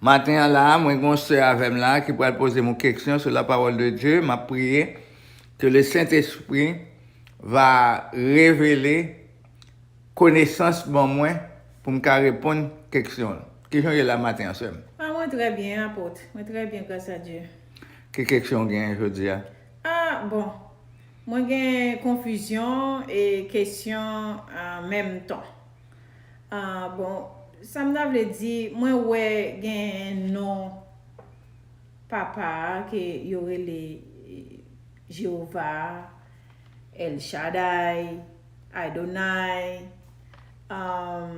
Maten an la a, mwen gen yon sè avè m la a ki pral poze m yon keksyon sou la pawòl de Dye, m ap priye ke le Sentespri va revele konesans ban mwen pou m ka reponn keksyon l. Kijan w ye la a maten an sè m? Ah mwen trè byen Apot, mwen trè byen gras a Dye. Ki keksyon w genyen jodi a? Ah bon, mwen gen konfizyon e kesyon an menm tan. Ah bon sam ta vle di mwen wè gen non papa a ke yo rele Jehovah a, El Shaddai, Adonai, ahh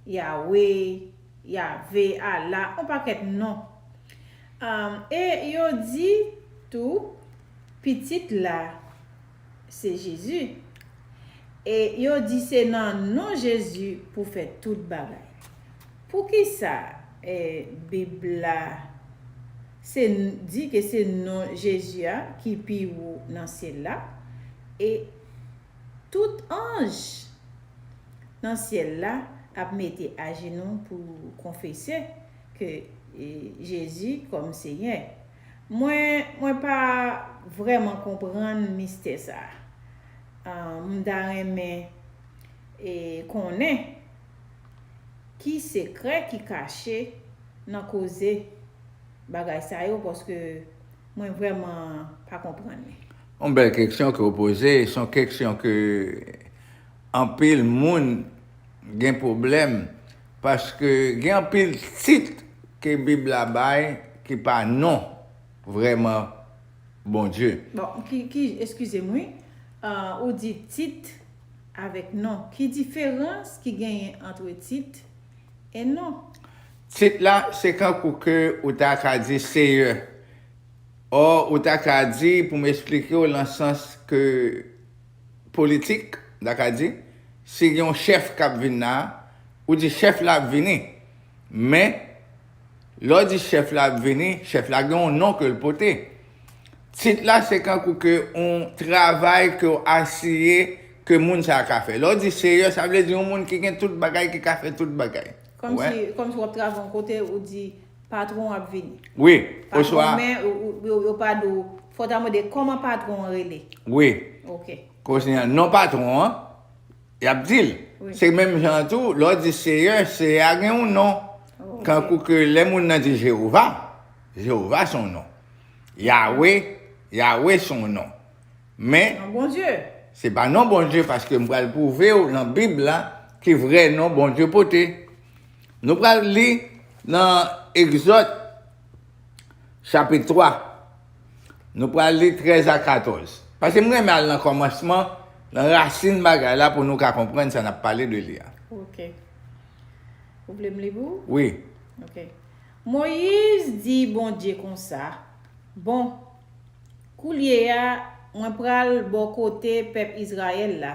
Yahweh, Yahve, Allah on pakèt non ahh e yo di tou pitit la. se Jezi. E yo di se nan non Jezi pou fè tout bagay. Poukisa Bib la se di ke se non Jezi a ki pi wo nan syèl la? E tout anj nan syèl la ap mete ajenou pou konfese ke Jezi kòm Senyè. Mwen mwen pa vreman konprann mistè sa uh m ta renmen e konnen ki sekrè ki kache nan koze bagay sa yo paske mwen vreman pa konprann li. Yon bèl keksyon ke w poze, se yon keksyon ke anpil moun gen pwoblèm Paske gen anpil tit ke bib la bay ki pa non vrèman Bondye. Bon ki ki eskizem wi ou di tit avèk non ki diferans ki genyen antre tit e non? Tit la se kankou ke ou ta ka di seyè or ou ta ka di pou m esplike w lan sans ke politik, n ta ka di, si gen yon chèf k ap vin la a, ou di chèf la ap vini. Men, lè w di chèf la ap vini, chèf la gen yon non ke l pote. Tit la se kankou ke yon travay ke w asiye ke moun sa a ka fè. Lè w di seyè, sa vle di yon moun ki gen tout bagay, ki ka fè tout bagay. Ou wè? Kòmsi w ap travay yon kote, ou di patron ap vini. Wi, oswa. Patron men, yo pa di w, fò w ta mande kòman patron an rele. Wi. Ok. Kounye a, non patron an, y ap di l. Wi. Se menm jan an tou, lè w di Seyè, Seyè a gen yon non. Ok. Tankou ke lè moun nan di Jewova, Jewova se yon non. Yawe, Yawe se yon non. Men. Non Bondye. Se pa non Bondye paske m pral pwouve w nan Bib la ki vrè non Bondye pote. Nou pral li nan Egzòd chapit 3. Nou pral li 13 a 14. Paske m renmen al nan kòmansman, nan rasin bagay la pou nou ka konprann sa n ap pale de li a. Ok. Ou vle m li pou ou? Wi. Ok. Moyiz di Bondye konsa, Bon, koulye a, mwen pral bò kote pèp Izrayèl la.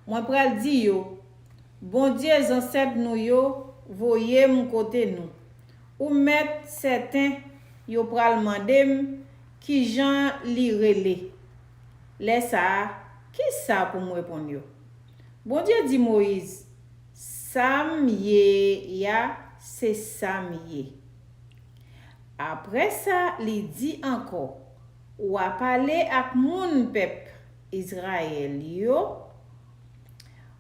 Mwen pral di yo, Bondye zansèt nou yo voye m kote nou. Ou mèt sèten yo pral mande m ki jan li rele. Lè sa a, ki sa pou m reponn yo? Bondye di Moyiz, Sa m ye a, se sa m ye. Apre sa, li di ankò, Ou apale ak moun pèp Izrayèl yo,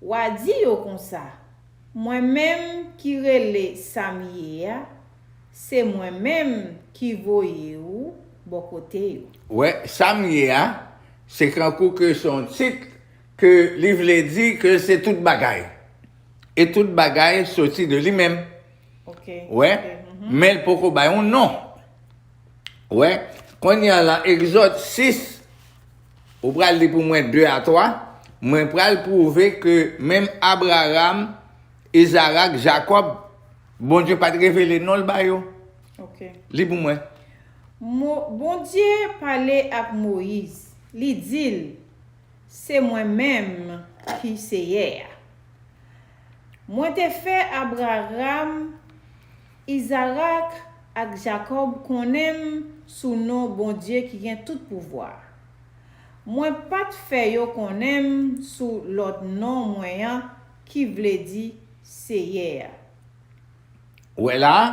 Wa di yo konsa, Mwen menm ki rele sa m ye a, se Mwen menm ki voye ou bò kote yo. Wè, sa m ye a, se kankou ke se yon tit ke li vle di ke se tout bagay. E tout bagay soti de li menm. Wè, men l poko bay yon non. Wè, kounye a lan Egzòd 6. Ou pral li pou mwen 2 a 3, Mwen pral pwouve ke menm Abraram, Izarak, Jakòb, Bondye pa t revele non l ba yo. Li pou mwen. Mo, Bondye pale ak Moyiz, li di l, Se mwen menm ki Seyè a. Mwen te fè Abraram Izarak ak Jakòb konnen m sou non Bondye ki gen tout pouvwa. Mwen pa t fè yo konnen m sou lòt non mwen an ki vle di Seyè a. Ou wè la a?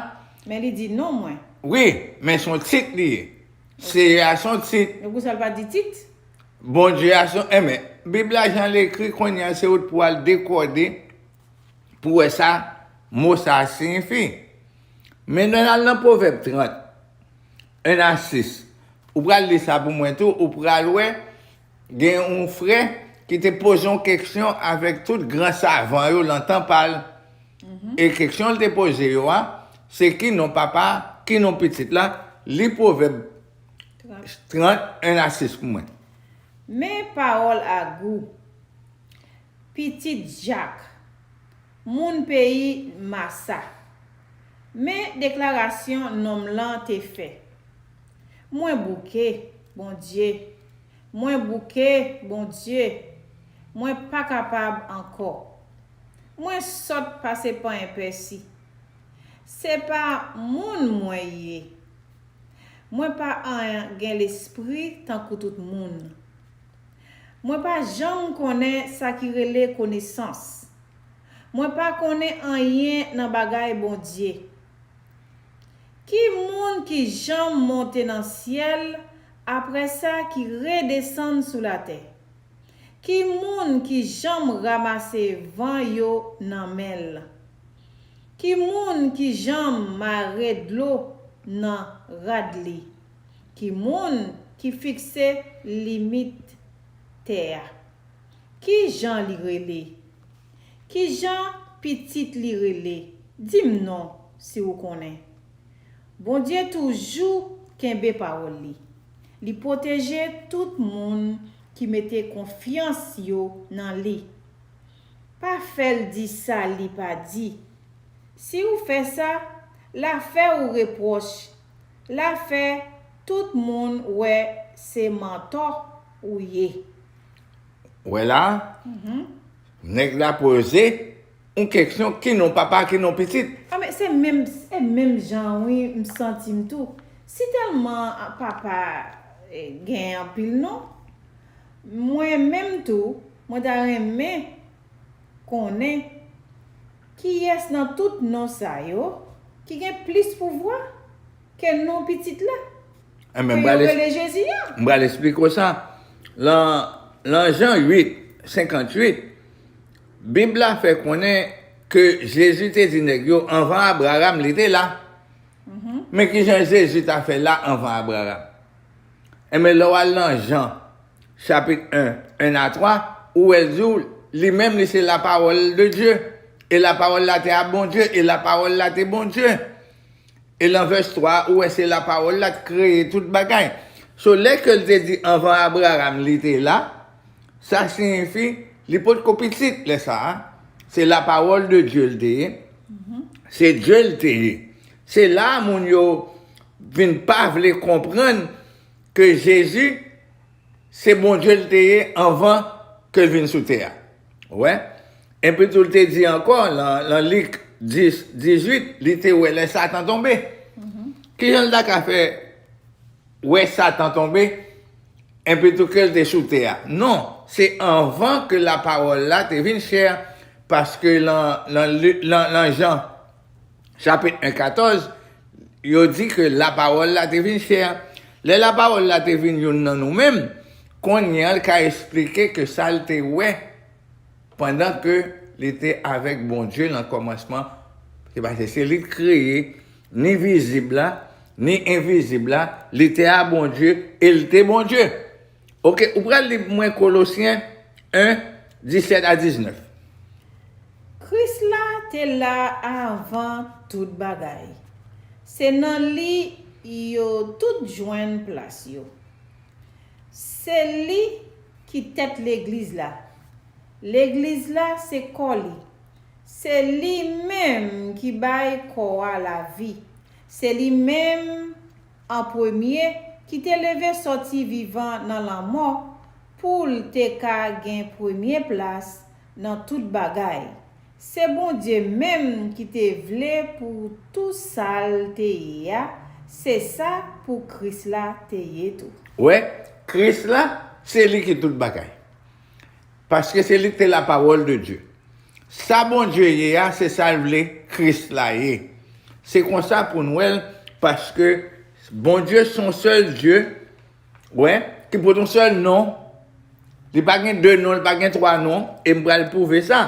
Men li di non mwen. Wi, men s on tit li ye. Seyè a s on tit. Men poukisa l pa di tit? Bondye a s on. Enben, Bib la jan l ekri kounye a se ou t pou al dekode. pou wè sa mo sa a siyifi. Men lè n al nan Pwovèb 30, 1 a 6, ou pral li sa pou mwen tou, ou pral wè gen yon frè ki te poze yon keksyon avèk tout gran savan yo nan tan pa l, e keksyon l te poze yo a, se ki non papa, ki non pitit la, li Pwovèb 30, 1 a 6 pou mwen. Men pawòl a gou. Pitit Jak. Moun peyi Masa. Men deklarasyon nonm lan te fè, Mwen bouke, Bondye, mwen bouke, Bondye, mwen pa kapab ankò. Mwen sòt pase panyen pèsi. Se pa moun mwen ye. Mwen pa an gen lespri tankou tout moun. Mwen pa janm konnen sa ki rele konesans. Mwen pa konnen anyen nan bagay Bondye. Ki moun ki janm monte nan syèl apre sa ki redesann sou latè? Ki moun ki janm ramase van yo nan men l? Ki moun ki janm mare dlo nan rad li? Ki moun ki fikse limit tè a? Ki jan li rele? Ki jan pitit li rele? Di m non, si ou konnen. Bondye toujou kenbe pawòl li. Li pwoteje tout moun ki mete konfyans yo nan li. Pa fè l di sa li pa di. Si ou fè sa, l a fè ou repwòch la fè tout moun wè se mantò ou ye. Wè la, nèg la poze yon keksyon ki non papa ki non pitit. A men se menm se menm jan wi m santim tou si tèlman papa gen anpil non mwen menm tou mwen ta renmen konnen. Kiyès nan tout non sa yo ki gen plis pouvwa ke non Pitit la, ke yo rele Jezi a? M pral esplike w sa. Lan Jan 8, 58, Bib la fè konnen ke Jezi te di nèg yo, Anvan Abraram, li te la. Men kijan Jezi ta fè la anvan Abraram? Enben, lè w al lan Jan. Chapit 1, 1 a 3, Ou wè zou, li menm li se lapawòl de Dye, e lapawòl la te a Bondye, e lapawòl la te Bondye. E lan vès 3 a, ou wè se lapawòl la k kreye tout bagay. So lè ke l te di anvan Abraham li te la, sa siyifi li pot ko pitit lè sa a, se lapawòl de Dye l te ye, se Dye l te ye. Se la a moun yo vin pa vle konprann. Ke Jezi se Bondye l te ye anvan ke l vin sou tè a. Ou wè? Epi tou l te di ankò lan Lik 10, 18, li te wè lè Satan tonbe. Ki jan l ta ka fè wè Satan tonbe epi tou ke l te sou tè a? Non, se anvan ke Lapawòl la te vin chè, paske lan Jan. chapit 1, 14, yo di ke lapawòl la te vin chè. Lè lapawòl la te vin youn nan nou menm, kounye a l ka esplike ke sa l te wè pandan ke li te avèk Bondye nan kòmansman, se pase se li k kreye ni vizib la, ni envizib la, li te a Bondye e l te Bondye. Ok, ou pral li pou mwen Kolosyen 1, 17 a 19. Kris la te la avan tout bagay. Se nan li yo tout jwenn plas yo. Se li ki tèt legliz la. Legliz la se kò li. Se li menm ki bay kò a lavi. Se li menm An premye, ki te leve sòti vivan nan lanmò, pou l te ka gen premye plas nan tout bagay. Se Bondye menm ki te vle pou tou sa l te ye a, se sa pou Kris la te ye tou. Ou wè, Kris la, se li ki tout bagay. Paske se li ki te lapawòl de Dye. Sa Bondye ye a, se sa l vle Kris la ye. Se konsa pou n wè l, paske Bondye se yon sèl Dye, ou wè, ki pote yon sèl non. Li pa gen de non, li pa gen twa non, e m pral pwouve sa.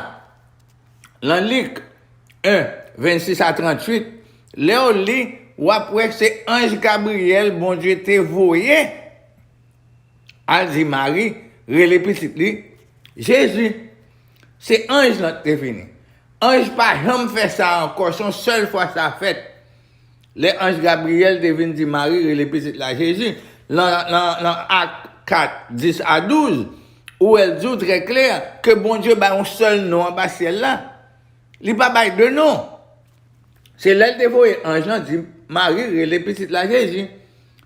Lan Lik 1, 26 a 38, lè w li, w ap wè se anj Gabriyèl Bondye te voye. al di Mari rele pitit li Jezi. Se anj lan ki te vini. Anj pa janm fè sa ankò, se yon sèl fwa sa fèt. Lè anj Gabriyèl te vin di Mari rele pitit la Jezi, nan Ak 4, 10 a 12, ou wè l di w trè klè ke Bondye bay yon sèl non anba syèl la. Li pa bay de non. Se lè l te voye anj lan di Mari rele pitit la Jezi.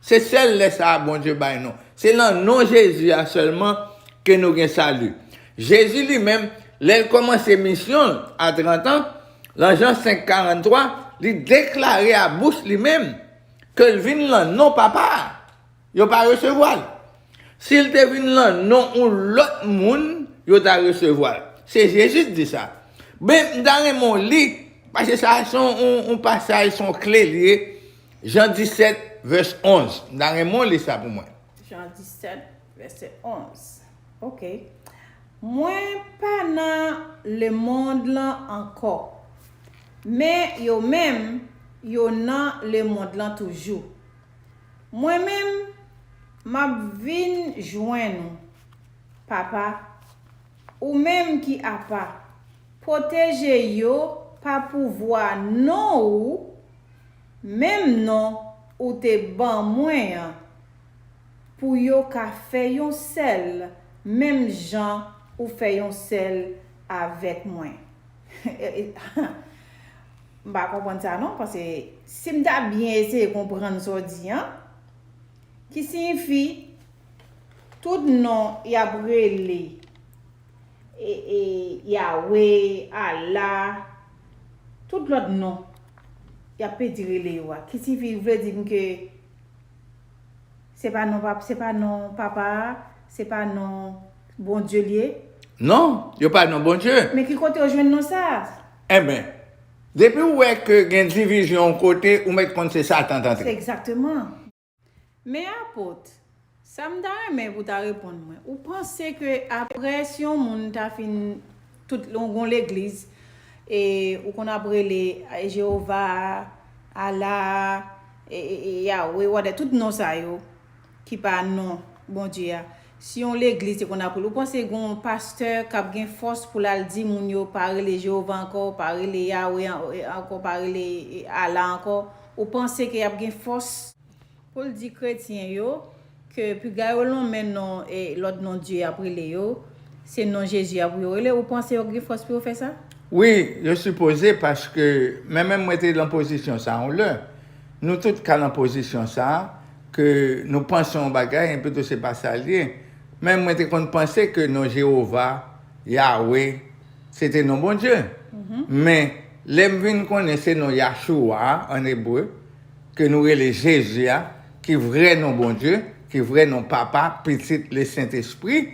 Se sèl lè sa a Bondye bay non. Se nan non Jezi a sèlman ke nou gen sali. Jezi li menm, lè l kòmanse misyon l a trantan, lan Jan 5, 43, li deklare a bouch li menm ke l vin lan non Papa a. Yo pa resevwa l. Si l te vin lan non yon lòt moun, yo ta resevwa l. Se Jezi k di sa. Men, m ta renmen w li, pase sa a se yon pasaj, se yon kle li ye, Jan 17, vès 11. M ta renmen w li sa pou mwen. Jan 17, vèsè 11. Ok. Mwen pa nan lemonn lan ankò, men yo menm, yo nan lemonn lan toujou. Mwen menm, m ap vin jwenn ou, Papa, ou menm ki apa, pwoteje yo pa pouvwa non ou, menm non ou te ban mwen an, pou yo ka fè yon sèl menm jan ou fè yon sèl avèk mwen. M pa konprann sa non, paske si m ta byen eseye konprann sa w di an, ki siyifi tout non y ap rele Yawe, Allah, tout lòt non y ap pedi rele yo a, ki siyifi ou vle di m ke se pa non Papa a, se pa non Bondye l ye? Non, yo pa non Bondye. Men ki kote yo jwenn non sa a? Enben, depi ou wè ke gen divizyon yon kote, ou mèt konn se Satan t antre. Se egzakteman. Men Apot, sa m ta renmen pou w ta reponn mwen, ou panse ke aprè si yon moun ta fin tout yon gon legliz e ou konn ap rele Jewova a, Allah a, Yahweh, wate, tout non sa yo, ki pa non Bondye a. Si yon legliz te konn apre l, ou panse gen yon pastè k ap gen fòs pou l al di moun yo pa rele Jewova ankò, pa rele Yawe ankò, pa rele Allah ankò? Ou panse ke y ap gen fòs pou l di kretyen yo ke piga yo lonmen non lòt non dye y ap rele yo, se non Jezi a pou yo rele? Ou panse yo gen fòs pou yo fè sa? Wi, yo sipoze, paske menmenm mwen te lan pozisyon sa a yon lè. Nou tout ka lan pozisyon sa a. Ke nou panse yon bagay enpi tou se pa sa l ye. Men mwen te konn panse ke non Jewova, Yawe, se te non Bondye. Men, lè m vin konnen se non Yahshua a, ann ebre, ke nou rele Jezi a, ki vrè non Bondye, ki vrè non Papa, Pitit, Lesentespri,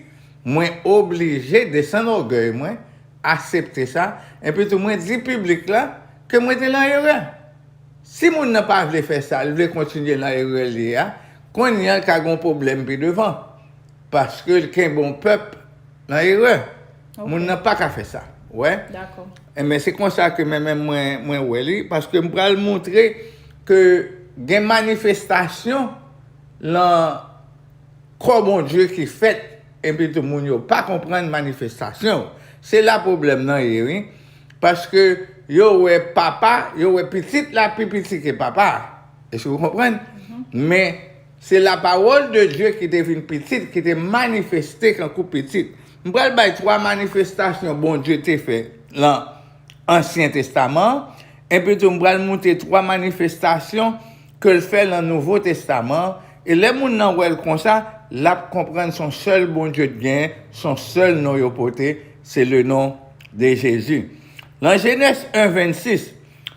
mwen oblije desann ògèy mwen, asepte sa, enpi tou mwen di piblik la ke mwen te lan erè. Si moun nan pa vle fè sa, l vle kontinye nan erè l ye a, kounye a l ka gen yon pwoblèm pi devan, paske l kenbe yon pèp nan erè. Moun nan pa ka fè sa. Ou wè? Dakò. Enben, se konsa ke men menm mwen, mwen wè li, paske m pral montre ke gen manifestasyon lan kò Bondye ki fèt. Epitou moun yo pa konprann manifestasyon. Se la pwoblèm nan ye wi. Paske yo wè papa, yo wè pitit la pi piti ke papa. Èske ou konprann? Men, se lapawòl de Dye ki te vin pitit, ki te manifeste kankou pitit. M pral bay twa manifestasyon Bondye te fè lan Ansyen Testaman an, epitou m pral moute twa manifestasyon ke l fè lan Nouvo Testaman an, e lè moun lan wè l konsa, l ap konprann s on sèl Bondye t gen, s on sèl non yo pote, se le non de Jezi. Lan Jenès 1, 26,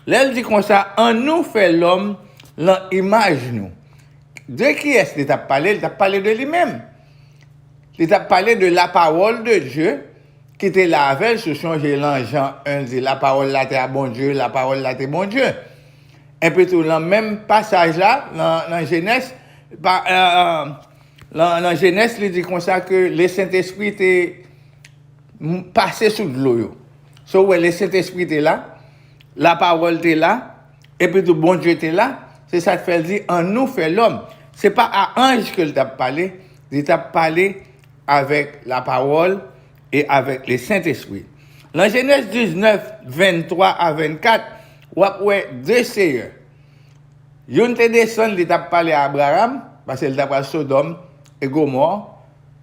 lè l di konsa, An nou fè lòm lan imaj nou. De kiyès li t ap pale? Li t ap pale de li menm. Li t ap pale de lapawòl de Dye ki te la avè l, si w sonje lan Jan 1, l di, Lapawòl la te a Bondye, lapawòl la te Bondye. Enpitou, lan menm pasaj la, lan Jenès, lan Jenès li di konsa ke le Sentespri te pase sou dlo yo. So wè le Sentespri te la, la pawòl te la, enpitou Bondye te la, se sa k fè l di an nou fè lòm. Se pa a anj ke l t ap pale, li t ap pale avèk la pawòl, e avèk le Sentespri. Lan Jenèz 19, 23 a 24, w'ap wè de Seyè. Youn te desann, li t'ap pale a Abraram, pase li ta pral Sodòm e Gomò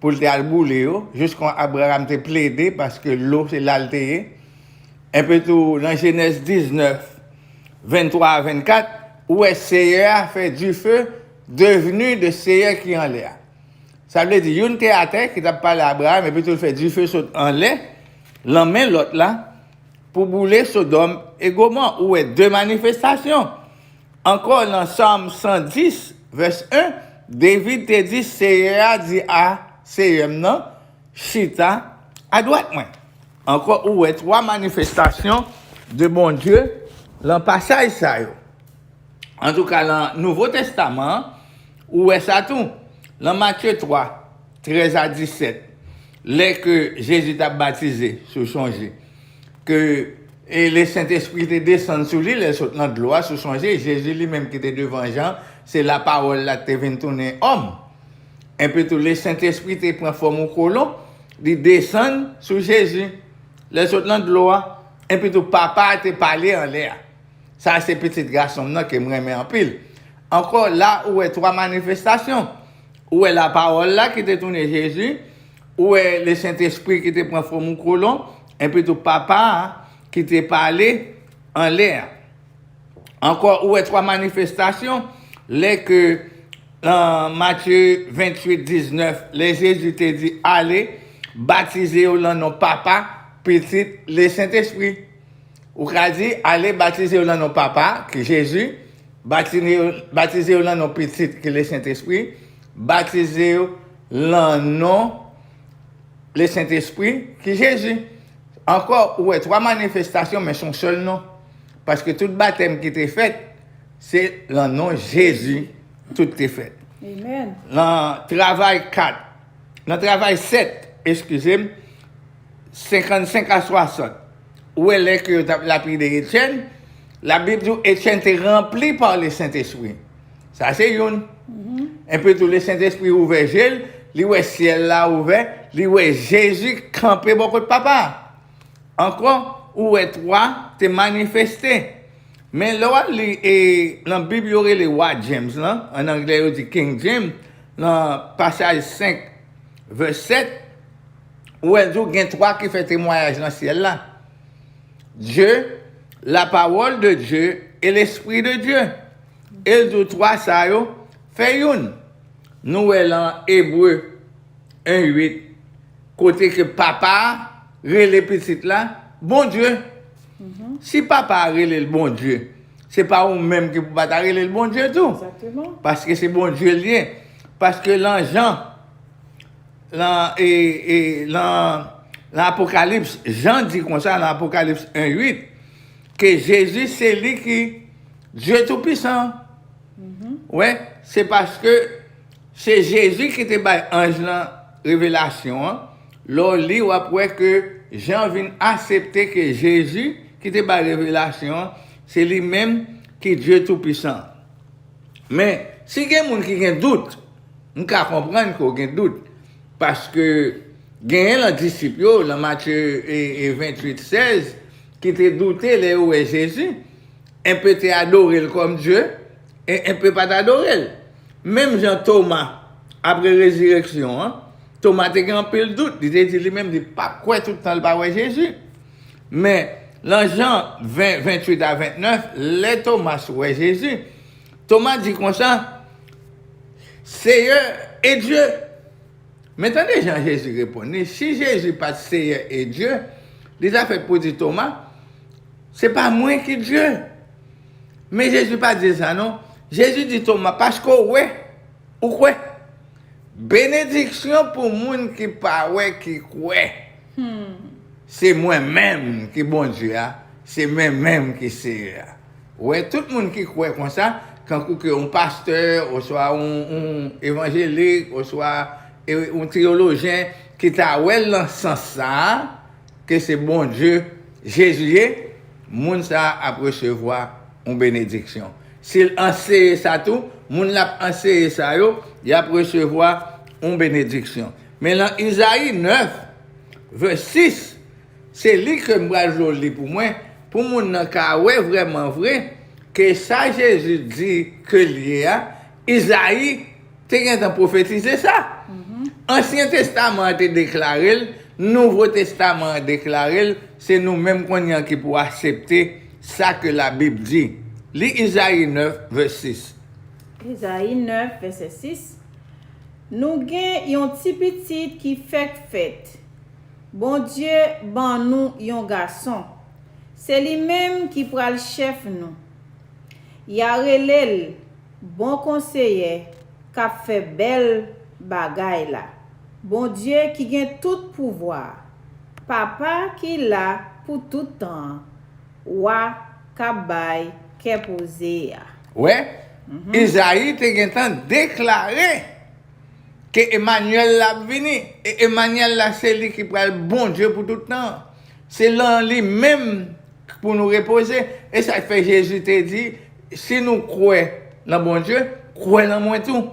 pou li te al boule yo, jis kon Abraram te plede paske lou se la li te ye. Enpe tou lan Jenèz 19, 23 a 24, ou wè Seyè a fè dife devni de Seyè ki anlè a. Sa vle di, youn te atè ki t ap pale Abraram, epitou l fè dife sot anlè lan men lòt la pou boule Sodòm e Gomò. Ou wè de manifestasyon. Ankò lan Sòm 110, vès 1, David te di, Seyè a di a Seyè m nan, Chita adwat mwen. Ankò ou wè twa manifestasyon de Bondye lan pasaj sa yo. Antouka nan Nouvo Testaman an, ou wè sa tou. Nan Matye 3, 13 a 17, lè ke Jezi t ap batize, si w sonje, ke le Sentespri te desann sou li lè l sot nan dlo a, si w sonje, Jezi li menm ki te devan Jan, se la Pawòl la ki te vin tounen òm. Enpi tou, le Sentespri te pran fòm yon kolon, li desann sou Jezi, lè l sot nan dlo a. Enpi tou, Papa a te pale anlè a. Sa a se pitit gason m nan ke m renmen anpil. Ankò, la ou wè twa manifestasyon. Ou wè Lapawòl la ki te tounen Jezi, ou wè Lesentespri ki te pran fòm yon kolon, epitou Papa a ki te pale anlè a. Ankò, ou wè twa manifestasyon lè ke nan Matye 28, 19, lè Jezi te di, Ale, batize yo nan non Papa, Pitit, Lesentespri. Ou ka di, Ale batize yo nan non Papa, ki Jezi, batize yo nan non Pitit, ki Lesentespri, batize yo nan non Lesentespri, ki Jezi. Ankò, ou wè twa manifestasyon men son sèl non. Paske tout batèm ki te fèt, se nan non Jezi tout te fèt. Nan Travay 4. nan travay 7, eskize m, 55 a 60, ou wè lè ke yo t ap lapide Etyèn, Labib di w Etyèn te ranpli pa le Sentespri. Sa se youn. Enpi tou le Sentespri ouvè je l, li wè syèl la ouvè, li wè Jezi kanpe bò kot Papa a. Ankò, ou wè 3 te manifeste. Men lè w al li nan Bib yo rele Wa James lan, an anglè yo di King James, nan pasaj 5, vè 7, ou wè l di w gen twa ki fè temwayaj nan syèl la, Dye, lapawòl de Dye e lespri de Dye. E l di w twa sa yo fè youn. Nou wè lan Ebre 1, 8, kote ke Papa a rele Pitit la Bondye. Si papa a rele l Bondye, se pa ou menm ki pou pa ta rele l Bondye tou. Paske se Bondye l ye. Paske lan Jan, lan e, e, lan, lan Apokalips, Jan di konsa lan Apokalips 1, 8, ke Jezi se li ki Dye Toupisan an. Ou wè? Se paske. Se Jezi ki te bay anj lan revelasyon an, lè w li w ap wè ke Jan vin asepte ke Jezi ki te bay revelasyon an se li menm ki Dye Toupisan an. Men, si gen moun ki gen dout, m ka konprann ke w gen dout, paske genyen lan disip yo, lan Matye 28, 16, ki te doute lè yo wè Jezi, enpe te adore l kòm Dye, Enpe pa t adore l. Menm jan Toma, apre rezireksyon an, Toma te gen anpil dout, li te di li menm li pap kwè tout tan li pa wè Jezi. Men, lan Jan 20, 28 a 29, lè Tomas wè Jezi, Toma di konsa, Seyè e Dye! Men tande jan Jezi reponn li, si Jezi pa t Seyè e Dye, li ta fèt pou di Toma, Se pa mwen ki Dye! Men Jezi pa di l sa non. Jezi di Toma, Paske w wè, ou kwè. Benediksyon pou moun ki pa wè ki kwè. Se mwen menm ki Bondye a, se men menm ki Seyè a. Ou wè, tout moun ki kwè konsa, tankou ke yon pastè, oswa yon evanjelik, oswa yon teyolojyen ki ta wè l nan sans sa a, ke se Bondye Jezi ye, moun sa a ap resevwa yon benediksyon. Si l anseye sa tou, moun l ap anseye sa yo, y ap resevwa yon benediksyon. Men nan Izayi 9, vè 6, se li ke m pral vle w li pou mwen, pou moun nan ka wè vrèman vre ke sa Jezi di ke l ye a, Izayi, te gentan pwofetize sa. Ansyen Testaman an te deklare l, Nouvo Testaman an deklare l, se nou menm kounye an ki pou asepte sa ke Labib di. Li Izayi 9, vè 6. Izayi 9, vèsè 6, Nou gen yon ti pitit ki fèk fèt, Bondye ban nou yon gason, se li menm ki pral chèf nou. Ya rele l bon konseyè kap fè bèl bagay la. Bondye ki gen tout pouvwa a. Papa ki la pou tout tan an. Wa kap bay kè poze a. Wè, Izayi te gentan deklare ke Emanyèl la ap vini, e Emanyèl la se li ki pral Bondye pou tout tan an. Se lan li menm. K pou nou repoze. E sa k fè Jezi te di, Si nou kwè nan Bondye, kwè nan mwen tou.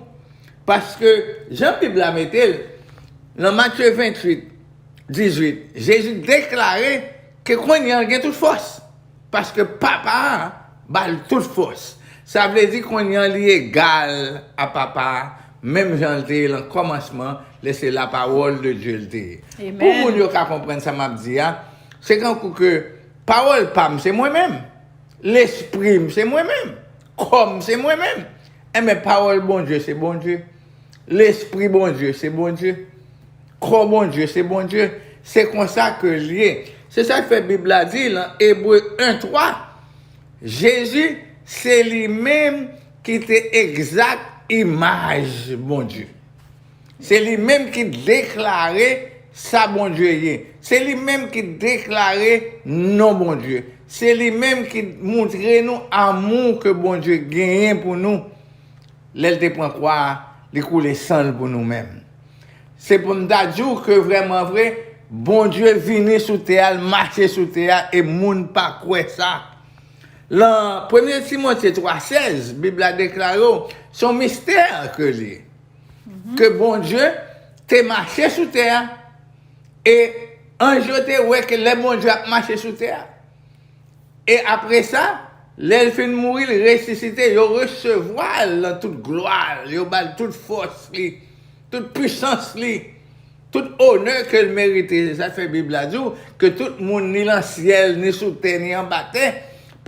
Paske, jan Bib la mete l, nan Matye 28, 18, Jezi deklare ke kounye a l gen tout fòs, paske Papa a ba l tout fòs. Sa vle di kounye a li egal a Papa a, menm jan l te ye nan kòmansman, lè se lapawòl de Dye l te ye. Pou moun yo ka konprann sa m ap di a, Se kankou ke pawòl pa m se mwen menm, lespri m se mwen menm, kò m se mwen menm. Enben, pawòl Bondye se Bondye, lespri Bondye se Bondye, kò Bondye se Bondye. Se konsa ke l ye. Se sa k fè Bib la di lan Ebre 1, 3, Jezi se li menm ki te egzat imaj Bondye. Se li menm ki deklare sa Bondye ye. Se li menm ki deklare non Bondye. Se li menm ki moutre nou amou ke Bondye genyen pou nou lè l te pran kwa a, li koule san l pou nou menm. Se pou m ta di w ke vrèman vre, Bondye vini sou tè a, l mache sou tè a e moun pa kwè sa. Lan premye Timote 3, 16, Bib la deklare w se yon mistè ke li, ke Bondye te mache sou tè a, e anj yo te wè ke lè Bondye ap mache sou tè a, e apre sa, lè l fin mouri, l resisite, yo resevwa l lan tout glwa l, yo ba l tout fòs li. Tout pwisans li, tout onè ke l merite. Se sa k fè Bib la di w ke tout moun ni lan syèl, ni sou tè, ni anba tè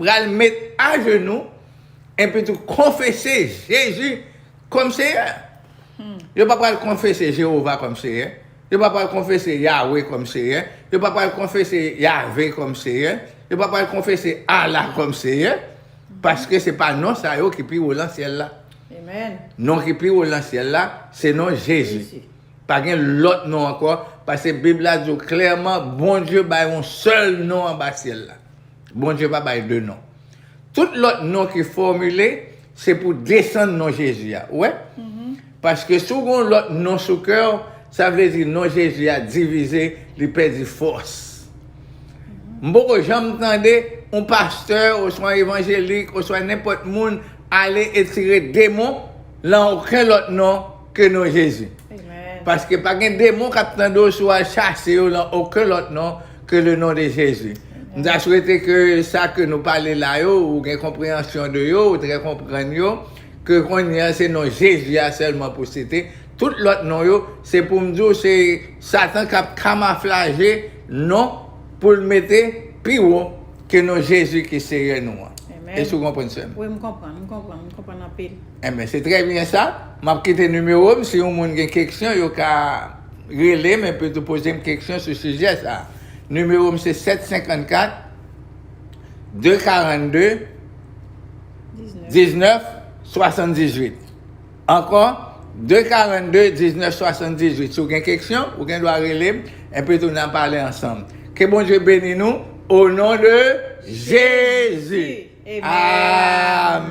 pral met ajenou epitou konfese Jezi kòm Seyè. Yo pa pral konfese Jewova kòm Seyè. Yo pa pral konfese Yawe kòm Seyè. Yo pa pral konfese Yave kòm Seyè. Yo pa pral konfese Allah kòm Seyè. Paske se pa non sa yo ki pi wo lan syèl la. Non ki pi wo nan syèl la, se non Jezi. Pa gen lòt non ankò, paske Bib la di w klèman Bondye bay yon sèl non anba syèl la. Bondye pa bay de non. Tout lòt non ki fòmile, se pou desann non Jezi a. Ou wè? Paske si w gen yon lòt non sou kè w, sa vle di non Jezi a divize, li pèdi fòs. M poko janm tande yon pastè oswa yon evanjelik oswa nenpòt moun Ale etire demon lan oken lòt non ke non Jezi. Paske pa gen demon kap tande w si w al chase yo lan oken lòt non ke le non de Jezi. M ta swete ke sa ke nou pale la yo ou gen konpreyansyon de yo, ou trè konprann yo, ke konnye a se non Jezi a sèlman pou site, tout lòt non yo se pou m di w se satan kap kamaflaje non pou l mete pi wo ke non Jezi ki Seyè nou an. Èske ou konprann, sè m? Wi, m konprann. M konprann. M konprann anpil. Enben, se trè byen sa. M ap kite nimewo m si yon moun gen keksyon, yo ka rele m epi tou poze m keksyon sou sijè sa a. Nimewo m se 754 242 19 78. Ankò, 242 1978 si w gen keksyon ou gen dwa rele m enpi tou nan pale ansanm ke Bondye beni nou o non de Jezi Amen.